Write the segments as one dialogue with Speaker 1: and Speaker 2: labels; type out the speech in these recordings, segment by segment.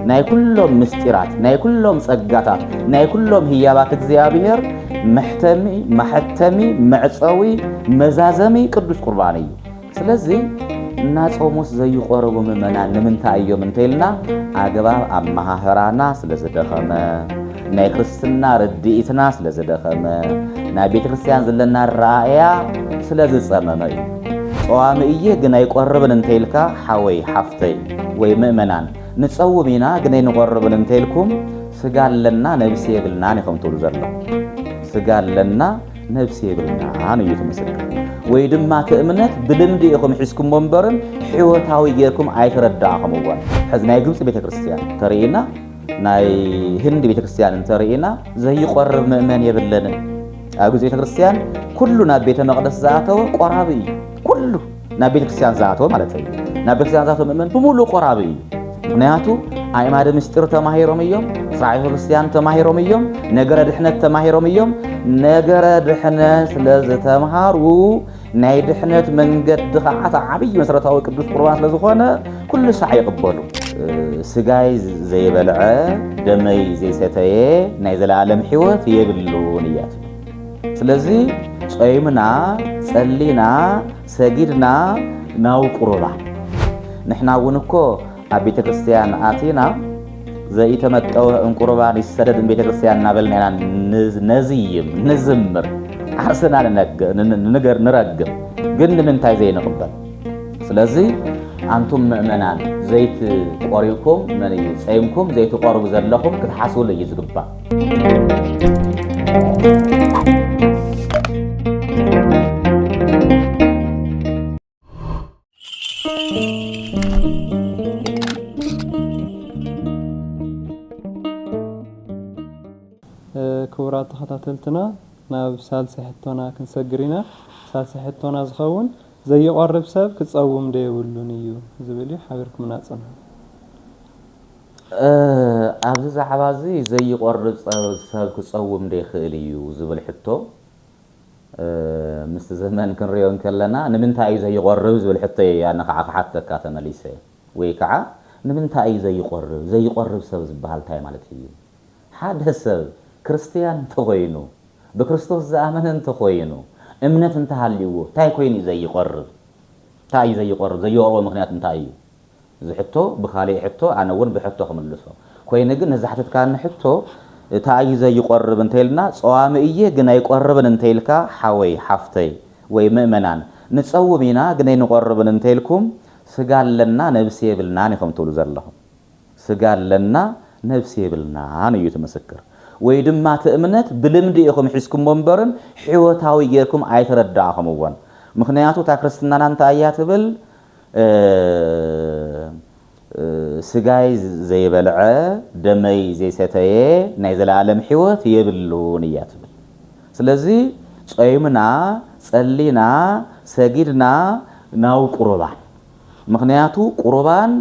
Speaker 1: ናይ ኩሎም ምስጢራት ናይ ኩሎም ጸጋታት ናይ ኩሎም ህያባት እግዚኣብሔር መሕተሚ ማሕተሚ መዕጸዊ መዛዘሚ ቅዱስ ቁርባን እዩ ስለዚ እናጾሙስ ዘይቆረቡ ምእመናን ንምንታይ እዮም እንተይልና ኣግባብ ኣመሃህራና ስለ ዝደኸመ ናይ ክርስትና ርድኢትና ስለ ዝደኸመ ናይ ቤተ ክርስቲያን ዘለና ረኣእያ ስለ ዝጸመመ እዩ ጸዋሚ እየ ግን ኣይቆርብን እንተይልካ ሓወይ ሓፍተይ ወይ ምእመናን ንጸውም ኢና ግን ኣይንቆርብን እንተኢልኩም ስጋ ኣለና ነብሲ የብልናን ኢኹም ትብሉ ዘለኹም። ስጋ ኣለና ነብሲ የብልናን እዩ እቲ ምስክር። ወይ ድማ እቲ እምነት ብልምዲ ኢኹም ሒዝኩሞ እምበርም ሕይወታዊ ጌርኩም ኣይተረዳእኹምዎን። ሕዚ ናይ ግብጺ ቤተ ክርስቲያን ተርእይና ናይ ህንዲ ቤተ ክርስቲያን እንተርእይና ዘይቆርብ ምእመን የብለንን። ኣብ ግብጺ ቤተ ክርስቲያን ኩሉ ናብ ቤተ መቅደስ ዝኣተወ ቆራቢ እዩ ኩሉ ናብ ቤተ ክርስቲያን ዝኣተወ ማለት እዩ ናብ ቤተ ክርስቲያን ዝኣተወ ምእመን ብምሉእ ቆራቢ እዩ ምክንያቱ ኣእማደ ምስጢር ተማሂሮም እዮም ስርዓተ ቤተክርስትያን ተማሂሮም እዮም ነገረ ድሕነት ተማሂሮም እዮም ነገረ ድሕነት ስለዝተምሃሩ ናይ ድሕነት መንገዲ ከዓ እቲ ዓብዪ መሰረታዊ ቅዱስ ቁርባን ስለዝኾነ ኩሉ ሳዕ ይቕበሉ ስጋይ ዘይበልዐ ደመይ ዘይሰተየ ናይ ዘለኣለም ሕይወት የብሉን እያ ትብል ስለዚ ጾይምና ጸሊና ሰጊድና ናብ ቁሩባ ንሕና እውን እኮ ኣብ ቤተ ክርስትያን ኣቲና ዘኢተመጠወ እንቁርባን ይሰደድ ቤተ ክርስትያን እናበልና ኢና ነዝይም ንዝምር ዓርስና ንነገር ንረግም ግን ንምንታይ ዘይንቕበል ስለዚ ኣንቱም ምእመናን ዘይት ቆሪብኩም ጸይምኩም ዘይትቆርቡ ዘለኹም ክትሓስብሉ እዩ ዝግባእ
Speaker 2: ክቡራት ተኸታተልትና ናብ ሳልሲ ሕቶና ክንሰግር ኢና ሳልሲ ሕቶና ዝኸውን ዘይቆርብ ሰብ ክፀውም ዶ የብሉን እዩ ዝብል እዩ ሓቢርኩምና ፅንሑ
Speaker 1: ኣብዚ ዛዕባ እዚ ዘይቖርጽ ሰብ ክጸውም ዶ ይኽእል እዩ ዝብል ሕቶ ምስቲ ዘመን ክንሪኦ እንከለና ንምንታይ እዩ ዘይቖርብ ዝብል ሕቶ እየ ኣነ ካዓ ክሓተካ ተመሊሰ ወይ ካዓ ንምንታይ እዩ ዘይቖርብ ዘይቖርብ ሰብ ዝባሃል እንታይ ማለት እዩ ሓደ ሰብ ክርስትያን እንተኾይኑ ብክርስቶስ ዝኣመነ እንተኾይኑ እምነት እንተሃልይዎ እንታይ ኮይኑ እዩ ዘይቖርብ እንታይ እዩ ዘይቖርብ ዘይቖርቦ ምኽንያት እንታይ እዩ እዚ ሕቶ ብካሊእ ሕቶ ኣነ ውን ብሕቶ ክምልሶ ኮይኑ ግን ንዝሓተትካኒ ሕቶ እታ እዩ ዘይቆርብ እንተኢልና ጸዋሚ እየ ግን ኣይቆርብን እንተኢልካ ሓወይ ሓፍተይ ወይ ምእመናን ንጸውም ኢና ግን ኣይንቆርብን እንተኢልኩም ስጋ ኣለና ነብሲ የብልናን ኢኩም ትብሉ ዘለኩም ስጋ ኣለና ነብሲ የብልናን እዩ እቲ ምስክር ወይ ድማ እቲ እምነት ብልምዲ ኢኩም ሒዝኩሞ እምበርን ሕይወታዊ ጌርኩም ኣይተረዳእኩምዎን ምክንያቱ እታ ክርስትናና እንታይ እያ ትብል ስጋይ ዘይበልዐ ደመይ ዘይሰተየ ናይ ዘለኣለም ሕይወት የብሉን እያ ትብል። ስለዚ ጾይምና፣ ጸሊና፣ ሰጊድና ናብ ቁርባን ምኽንያቱ ቁርባን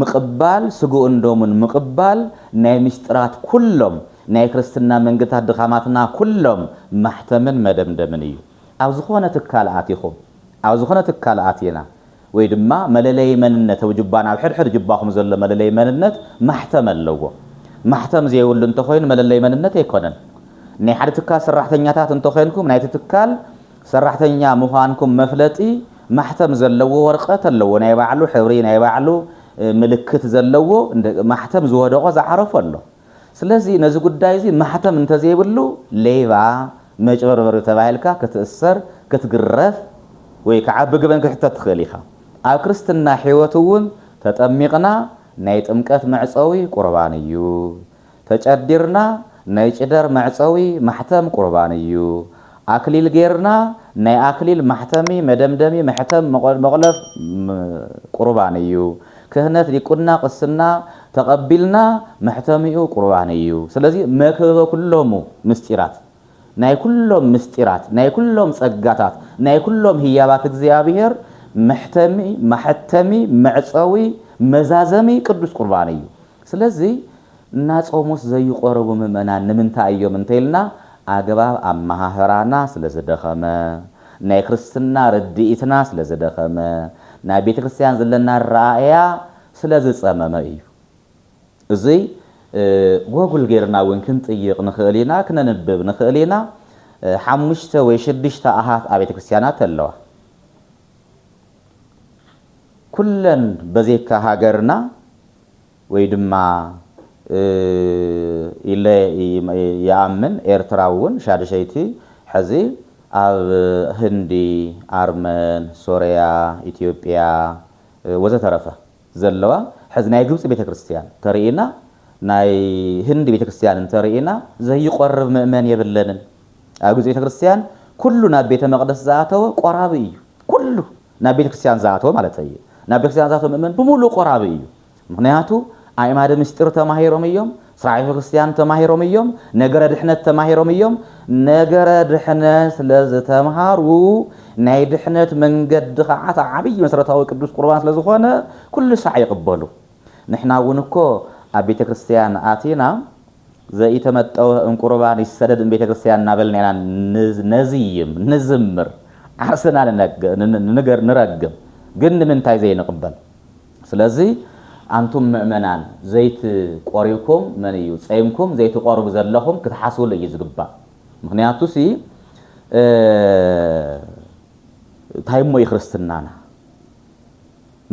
Speaker 1: ምቕባል ስግኡን ደሙን ምቕባል ናይ ምስጢራት ኩሎም ናይ ክርስትና መንገድታት ድኻማትና ኩሎም ማሕተምን መደምደምን እዩ። ኣብ ዝኾነ ትካል ኣቲኹም። ኣብ ዝኾነ ትካል ኣቲና ወይ ድማ መለለዪ መንነት ኣብ ጁባና ኣብ ሕድሕድ ጁባኹም ዘሎ መለለዪ መንነት ማሕተም ኣለዎ። ማሕተም ዘይብሉ እንተኾይኑ መለለዪ መንነት ኣይኮነን። ናይ ሓደ ትካል ሰራሕተኛታት እንተኾይንኩም ናይቲ ትካል ሰራሕተኛ ምዃንኩም መፍለጢ ማሕተም ዘለዎ ወርቐት ኣለዎ። ናይ ባዕሉ ሕብሪ ናይ ባዕሉ ምልክት ዘለዎ ማሕተም ዝወደቖ ዝዓረፎ ኣሎ። ስለዚ ነዚ ጉዳይ እዚ ማሕተም እንተዘይብሉ ሌባ፣ መጭበርበሪ ተባሂልካ ክትእሰር፣ ክትግረፍ ወይ ከዓ ብግበን ክትሕተት ትኽእል ኢኻ። ኣብ ክርስትና ሕይወት እውን ተጠሚቕና ናይ ጥምቀት መዕፀዊ ቁርባን እዩ። ተጨዲርና ናይ ጭደር መዕፀዊ፣ ማሕተም፣ ቁርባን እዩ። ኣክሊል ገይርና ናይ ኣክሊል ማሕተሚ መደምደሚ መሕተም መቆ መቁለፍ ም ቁርባን እዩ ክህነት ዲቁና ቅስና ተቀቢልና መሕተሚኡ ቁርባን እዩ ስለዚ መክበበ ኩሎሙ ምስጢራት ናይ ኩሎም ምስጢራት ናይ ኩሎም ጸጋታት ናይ ኩሎም ህያባት እግዚኣብሔር መሕተሚ ማሐተሚ መዕጸዊ መዛዘሚ ቅዱስ ቁርባን እዩ ስለዚ እናጾሙስ ዘይቖርቡ ምእመናን ንምንታይ እዮም እንተይልና ኣገባብ ኣመሃህራና ስለዝደኸመ፣ ናይ ክርስትና ርድኢትና ስለዝደኸመ፣ ናይ ቤተ ክርስቲያን ዘለና ኣረኣእያ ስለዝጸመመ እዩ። እዙይ ጎጉል ገይርና እውን ክንጥይቕ ንኽእል ኢና፣ ክነንብብ ንኽእል ኢና። ሓሙሽተ ወይ ሽዱሽተ ኣሃት ኣብያተ ክርስቲያናት ኣለዋ። ኩለን በዘይካ ሃገርና፣ ወይ ድማ ኢለ ይኣምን ኤርትራ ውን ሻድሸይቲ ሐዚ ኣብ ህንዲ ኣርመን ሶርያ ኢትዮጵያ ወዘተረፈ ዘለዋ ሐዚ ናይ ግብጺ ቤተክርስትያን ተርእይና ናይ ህንዲ ቤተክርስትያን እንተርእይና ዘይቆርብ ምእመን የብለንን ኣብ ግብጺ ቤተክርስትያን ኩሉ ናብ ቤተመቅደስ ዝኣተወ ቆራቢ እዩ ኩሉ ናብ ቤተክርስትያን ዝኣተወ ማለተይ እየ ናብ ቤተክርስትያን ዝኣተወ ምእመን ብሙሉኡ ቆራቢ እዩ ምኽንያቱ ኣእማደ ምስጢር ተማሂሮም እዮም፣ ስራዔ ክርስትያን ተማሂሮም እዮም፣ ነገረ ድሕነት ተማሂሮም እዮም፣ ነገረ ድሕነት ስለ ዝተምሃሩ ናይ ድሕነት መንገዲ ኸዓ እቲ ዓብዪ መሰረታዊ ቅዱስ ቁርባን ስለ ዝኾነ ኩሉ ሳዕ ይቕበሉ። ንሕና እውን እኮ ኣብ ቤተ ክርስትያን ኣቲና ዘኢተመጠወ እም ቁርባን ይሰደድ እም ቤተ ክርስትያን እናበልና ኢና ነዝይም፣ ንዝምር፣ ዓርስና ንነግር፣ ንረግም ግን ንምንታይ ዘይንቕበል? ስለዚ ኣንቱም ምእመናን ዘይት ቆሪብኩም መን እዩ ጸይምኩም ዘይትቆርቡ ዘለኹም ክትሓስብሉ እዩ ዝግባእ ምኽንያቱሲ ታይ እሞ እዩ ክርስትናና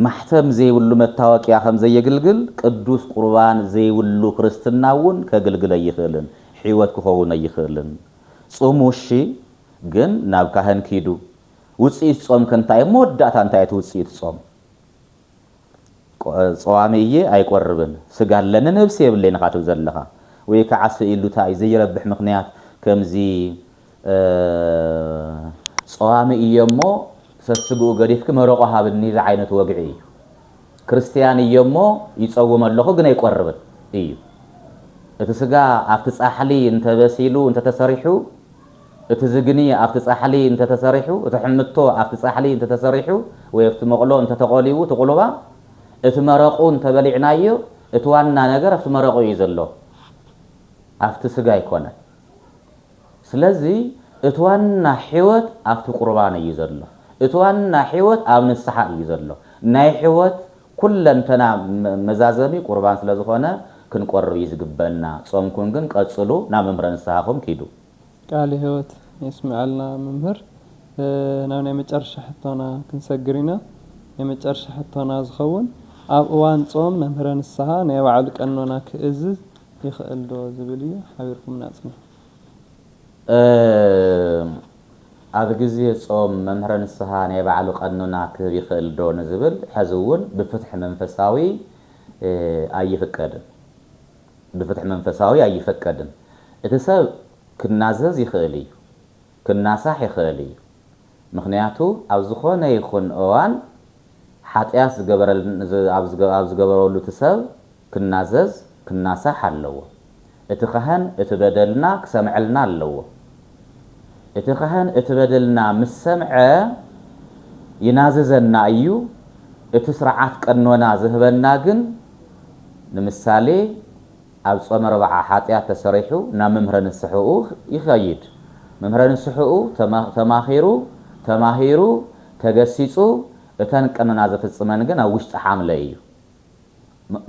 Speaker 1: ማሕተም ዘይብሉ መታወቅያ ከምዘየግልግል ቅዱስ ቁርባን ዘይብሉ ክርስትና እውን ከግልግል ኣይኽእልን ሕይወት ክኸውን ኣይኽእልን ጹሙ እሺ ግን ናብ ካህን ኪዱ ውጽኢት ጾምኪ እንታይ እሞ መወዳእታ እንታይ እቲ ውጽኢት ጾም ጸዋሚ እየ ኣይቆርብን ስጋ ኣለኒ ነብሲ የብለይን ኢካ ትብል ዘለካ ወይ ካዓ ስኢሉ ታይ እዩ ዘይረብሕ ምክንያት ከምዚ ጸዋሚ እየ እሞ ሰስግኡ ገዲፍኪ መረቆ ሃብኒ ዝዓይነቱ ወግዒ እዩ ክርስትያን እየ እሞ ይጸውም ኣለኩ ግን ኣይቆርብን እዩ እቲ ስጋ ኣብቲ ጻሕሊ እንተበሲሉ እንተተሰሪሑ እቲ ዝግኒ ኣብቲ ጻሕሊ እንተ ተሰሪሑ፣ እቲ ሕምቶ ኣብቲ ጻሕሊ እንተ ተሰሪሑ ወይ ኣብቲ መቕሎ እንተ ተቖሊዉ እቲ ቁልባ፣ እቲ መረቑ እንተ በሊዕናዮ፣ እቲ ዋና ነገር ኣብቲ መረቑ እዩ ዘሎ፣ ኣብቲ ስጋ ኣይኮነን። ስለዚ እቲ ዋና ሕይወት ኣብቲ ቁርባን እዩ ዘሎ። እቲ ዋና ሕይወት ኣብ ንስሓ እዩ ዘሎ። ናይ ሕይወት ኩለንተና መዛዘሚ ቁርባን ስለ ዝኾነ ክንቆርብ እዩ ዝግበእና። ጾምኩም ግን ቀጽሉ ናብ መምህረ ንስሓኹም ኪዱ። ቃለ ህይወት
Speaker 2: የስመዐልና መምህር ናብ ናይ መጨረሻ ሕቶና ክንሰግር ኢና ናይ መጨረሻ ሕቶና ዝኸውን ኣብ እዋን ፆም መምህረ ንስሃ ናይ ባዕሉ ቀኖና ክእዝዝ ይኽእል ዶ ዝብል እዩ ሓቢርኩምና ኣፅንሑ። ኣብ ግዜ ፆም መምህረ ንስሃ ናይ ባዕሉ ቀኖና ክህብ ይኽእል ዶ ንዝብል ሐዚ እውን ብፍትሒ መንፈሳዊ ኣይፍቀድን። ብፍትሕ መንፈሳዊ ኣይፈቀድን። እቲ ሰብ ክናዘዝ ይኽእል እዩ፣ ክናሳሕ ይኽእል እዩ፣ ምኽንያቱ ኣብ ዝኾነ ይኹን እዋን ሓጥያት ኣብ ዝገበረሉ እቲ ሰብ ክናዘዝ ክናሳሕ ኣለዎ። እቲ ካህን እቲ በደልና ክሰምዐልና ኣለዎ። እቲ ካህን እቲ በደልና ምስ ሰምዐ ይናዝዘና እዩ፣ እቲ ስርዓት ቀኖና ዝህበና ግን ንምሳሌ ኣብ ጾመ ረብዓ ሓጢኣት ተሰሪሑ ናብ መምህረ ንስሕኡ ይኸይድ መምህረ ንስሕኡ ተማኺሩ ተማሂሩ ተገሲጹ እተን ቀኖና ዘፍጽመን ግን ኣብ ውሽጢ ሓምለ እዩ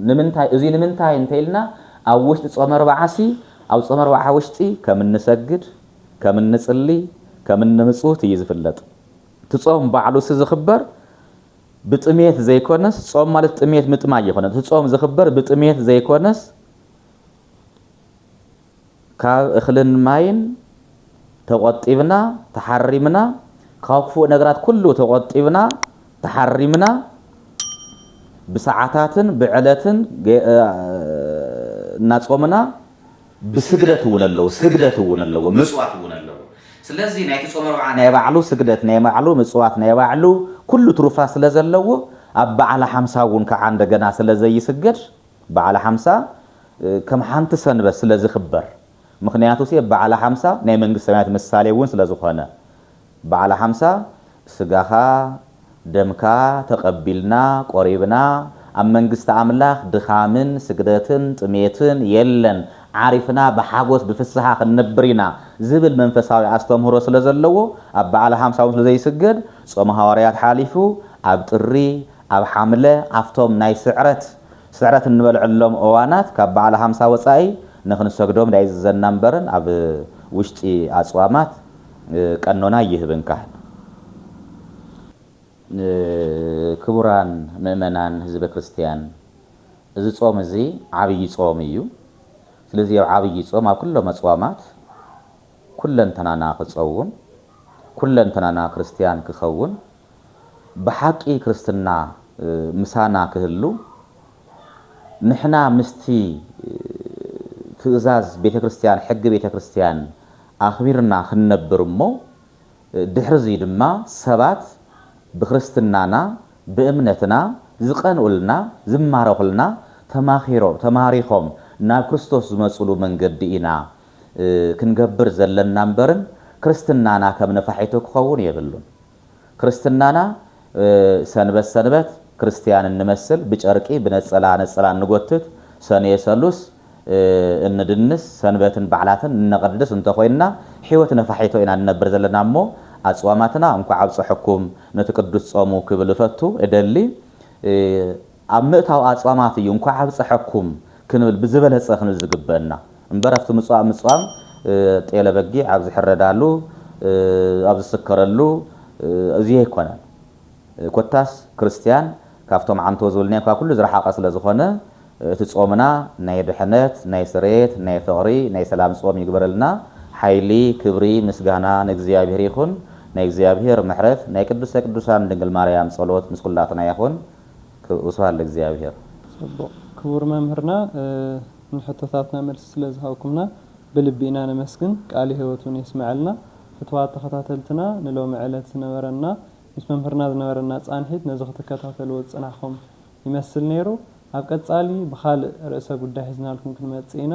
Speaker 2: ንምንታይ እዙይ ንምንታይ እንተኢልና ኣብ ውሽጢ ጾመ ረብዓሲ ኣብ ጾመ ረብዓ ውሽጢ ከም እንሰግድ ከም እንጽሊ ከም እንምጽውት እዩ ዝፍለጥ እቲ ጾም ባዕሉሲ ዝኽበር ብጥምየት ዘይኮነስ ጾም ማለት ጥምየት ምጥማይ ኣይኮነን እቲ ጾም ዝኽበር ብጥምየት ዘይኮነስ ካብ እኽልን ማይን ተቆጢብና ተሓሪምና ካብ ክፉእ ነገራት ኩሉ ተቆጢብና ተሓሪምና ብሰዓታትን ብዕለትን እናጾምና ብስግደት እውን ኣለዎ ስግደት እውን ኣለዎ ምጽዋት እውን ኣለዎ ስለዚ ናይቲ ጾመ ኣርብዓ ናይ ባዕሉ ስግደት ናይ ባዕሉ ምጽዋት ናይ ባዕሉ ኩሉ ትሩፋት ስለ ዘለዎ ኣብ በዓለ ሓምሳ እውን ከኣ እንደገና ስለ ዘይስገድ በዓለ ሓምሳ ከም ሓንቲ ሰንበት ስለ ዝኽበር ምኽንያቱሲ በዓለ ሓምሳ ናይ መንግስተ ሰማያት ምሳሌ እውን ስለ ዝኾነ በዓለ ሓምሳ ስጋኻ ደምካ ተቐቢልና ቆሪብና ኣብ መንግስቲ ኣምላኽ ድኻምን ስግደትን ጥሜትን የለን ዓሪፍና ብሓጎስ ብፍስሃ ክንነብር ኢና ዝብል መንፈሳዊ ኣስተምህሮ ስለ ዘለዎ ኣብ በዓለ ሓምሳ ውን ስለ ዘይስገድ ጾመ ሃዋርያት ሓሊፉ ኣብ ጥሪ ኣብ ሓምለ ኣብቶም ናይ ስዕረት ስዕረት
Speaker 1: እንበልዐሎም እዋናት ካብ በዓለ ሓምሳ ወጻኢ ንኽንሰግዶም ዳይዝዘና እምበርን ኣብ ውሽጢ ኣጽዋማት ቀኖና ኣይህብን ካህን። ክቡራን ምእመናን ህዝበ ክርስትያን እዚ ጾም እዚ ዓብይ ጾም እዩ። ስለዚ ኣብ ዓብይ ጾም ኣብ ኩሎም ኣጽዋማት ኩለንተናና ክጸውም ኩለንተናና ክርስትያን ክኸውን ብሓቂ ክርስትና ምሳና ክህሉ ንሕና ምስቲ ትእዛዝ ቤተ ክርስቲያን ሕጊ ቤተ ክርስቲያን ኣኽቢርና ክንነብር እሞ ድሕርዚ ድማ ሰባት ብክርስትናና ብእምነትና ዝቀንኡልና ዝማረኹልና ተማኺሮም ተማሪኾም ናብ ክርስቶስ ዝመጹሉ መንገዲ ኢና ክንገብር ዘለና እምበርን ክርስትናና ከም ነፋሒቶ ክኸውን የብሉን። ክርስትናና ሰንበት ሰንበት ክርስትያን እንመስል ብጨርቂ ብነፀላ ነፀላ እንጎትት ሰኑየ ሰሉስ እንድንስ ሰንበትን በዓላትን እነቐድስ እንተኾይንና ሕይወት ነፋሒቶ ኢና ንነብር ዘለና እሞ ኣፅዋማትና እንኳዕ ኣብፀሐኩም ነቲ ቅዱስ ፆሙ ክብል እፈቱ እደሊ ኣብ ምእታው ኣጽዋማት እዩ እንኳዕ ኣብጸሐኩም ክንብል ብዝበለጸ ክንብል ዝግበእና እምበር ኣብቲ ምጽዋም ምጽዋም ጤለ በጊዕ ኣብ ዝሕረዳሉ ኣብ ዝስከረሉ እዚ ኣይኮነን ኮታስ ክርስትያን ካብቶም ዓንቶ ዝብልናዮም ካብ ኩሉ ዝረሓቀ ስለ ዝኾነ እቲ ጾምና ናይ ድሕነት ናይ ስርየት ናይ ፍቅሪ ናይ ሰላም ጾም ይግበረልና ሓይሊ ክብሪ ምስጋና ንእግዚኣብሔር ይኹን ናይ እግዚኣብሔር ምሕረት ናይ ቅድስተ ቅዱሳን ድንግል ማርያም ጸሎት ምስ ኩላትና ይኹን ቅስቅሱ ኣሎ እግዚኣብሔር። ጽቡቕ ክቡር
Speaker 3: መምህርና ንሕቶታትና መልሲ ስለ ዝሃብኩምና ብልቢ ኢና ነመስግን ቃል ህይወት ውን የስመዐልና ፍትዋት ተኸታተልትና ንሎሚ ዕለት ዝነበረና ምስ መምህርና ዝነበረና ጻንሒት ነዚ ክትከታተልዎ ዝጸናሕኹም ይመስል ነይሩ ኣብ ቀጻሊ ብኻልእ ርእሰ ጉዳይ ሒዝናልኩም ክንመጽእ ኢና